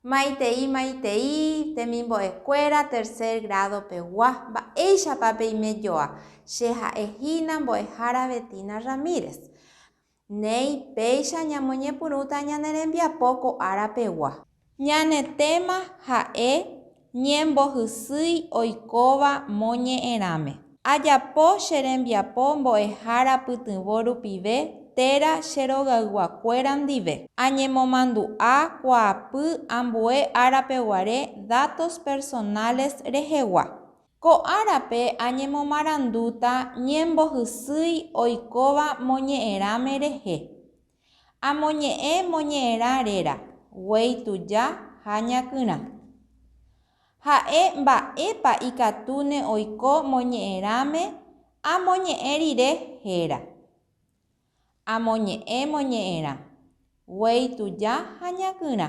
Maitei maitei temimbo'ekuéra tercer grado pegua mba'éichapa peime joa, che ha'e hína mbo'ehára Betina Ramírez. Néi, péicha ñamoñepyrũta ñane rembiapo ko ára pegua. Ñane téma ha'e Ñembohysýi oikóva moñe'ẽrãme. Ajapo che rembiapo mbo'ehára pytyvõ rupive téra che rogayguakuéra ndive. Añemomandu'a kuaapy ambue árapeguare datos personales rehegua. Ko árape añemomarandúta ñembohysýi oikóva moñe'ẽrãme rehe. Amoñe'ẽ moñe'ẽrã réra, guéi tuja ha ñakyrã. Ha'e mba'épa ikatúne oiko moñe'ẽrãme amoñe'ẽ rire héra. Amoñe'ẽ moñe'ẽrã. Guéi tuja ha ñakyrã.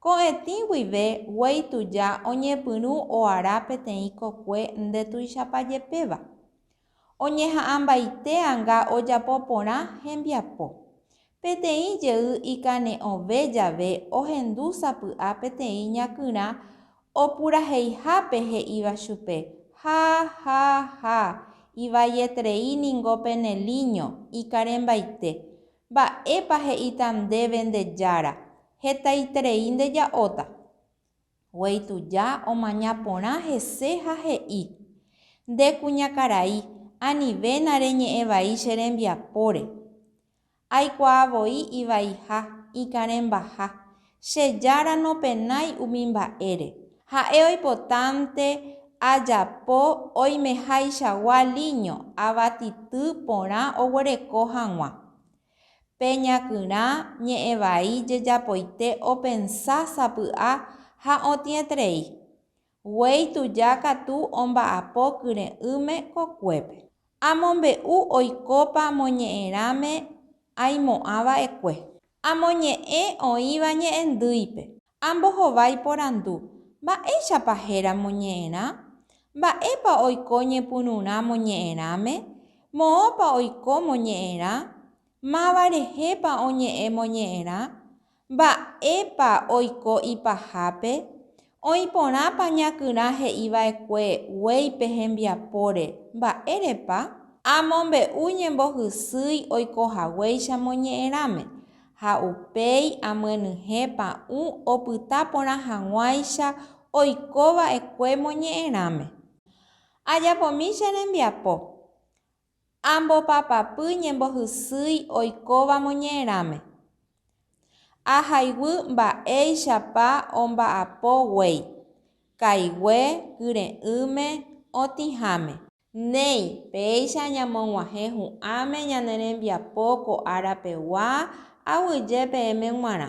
Ko'ẽtĩ guive guéi tuja oñepyrũ oara peteĩ kokue ndetuichapajepéva. Oñeha'ãmbaite anga ojapo porã hembiapo. Peteĩ jey ikane'õve jave ohendu sapy'a peteĩ ñakyrã Opuraheihápe he'íva chupe, Ha, ha, ha! Ivaietrei ningo pene líño, ikarẽmbaite! Mba'épa he'íta ndéve nde Jára, Hetaiterei ndeja'óta? Guéi tuja omaña porã hese ha he'i, Nde kuñakarai, anivéna reñe'ẽ vai che rembiapóre. Aikuaa voi ivaiha, ikãrẽmbaha. Che Jára nopenái umi mba'ére. Ha'e oipotánte ajapo oimehaichagua líño avatityy porã oguereko hag̃ua. Pe ñakyrã ñe'ẽvai jejapoite opensa sapy'a ha otĩetrei. Guéi tuja katu omba'apo kyre'ỹme kokuépe. Amombe'u oikópa moñe'ẽrãme aimo'ã va'ekue. Amoñe'ẽ oĩva ñe'ẽndýipe. Ambohova iporandu, Mba'éichapa héra moñe'ẽrã? Mba'épa oiko ñepyrũrã moñe'ẽrãme? Moõpa oiko moñe'ẽrã? Máva rehépa oñe'ẽ moñe'ẽrã? Mba'épa oiko ipahápe? Oĩ porãpa ñakyrã he'i va'ekue guéi pe hembiapóre, mba'érepa? Amombe'u ñembohysýi oiko haguéicha moñe'ẽrãme, ha upéi amyenyhẽ pa'ũ opyta porã hag̃uáicha oiko va'ekue moñe'ẽrãme. Ajapomi che rembiapo. Ambopapapy ñembohysýi oikóva moñe'ẽrãme. Ahayguy mba'éichapa omba'apo guéi, kaigue, kyre'ỹme, otĩháme. Néi, péicha ñamog̃uahẽ hu'ãme ñane rembiapo ko ára pegua, aguyje peẽme g̃uarã.